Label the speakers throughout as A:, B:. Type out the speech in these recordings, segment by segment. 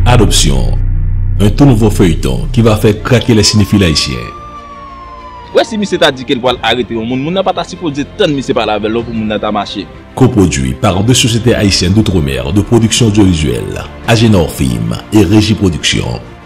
A: Adoption, un tout nouveau feuilleton ki va fè krake les cinéphiles haïtiens.
B: Wè si misye ta di kel pwal arete yon moun moun nan pata sipoze tann misye pale avèl non pou moun nan ta mache. Kopwodui par
A: de Société Haïtienne d'Outre-Mer de Production Audiovisuelle, Agenor Film, et Regie Production.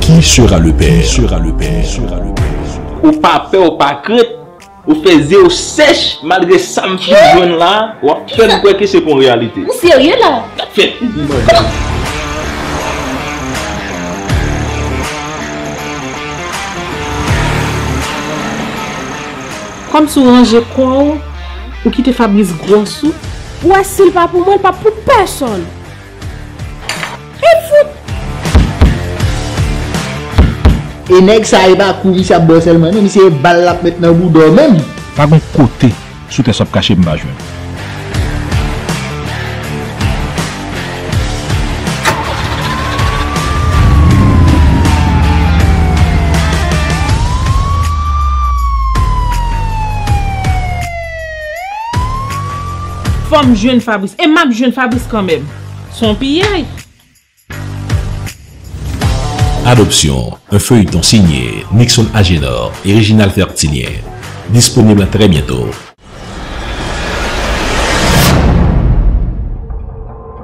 A: Qui sera le père? Ou pa pè ou
B: pa krent, ou fè zye ou sèch malgre sam fin jwenn la wap fèm kwè ke se pa yon reyalite. Ou serye la? Sak
C: fè ou di manzè
B: ou.
C: Kòmsi ou ranje kò ou, ou kite Fabrice gwòs ou. Ou wè sil pa pou mwen l pa pou pèsonn. Hit fout!
D: E nèg sa e pa kou misye ap bwè sèlman non misye e bal lap met nan bouda w menm. Pa gon kote
E: sou tè sa w ap kache m pa jwenn.
C: Fòm jwenn Fabrice e map jwenn Fabrice kanmenm. Son piyay.
A: Adoption, un feuilleton signé Nickson Agénor et Réginald Fertilien. Disponible très bientôt.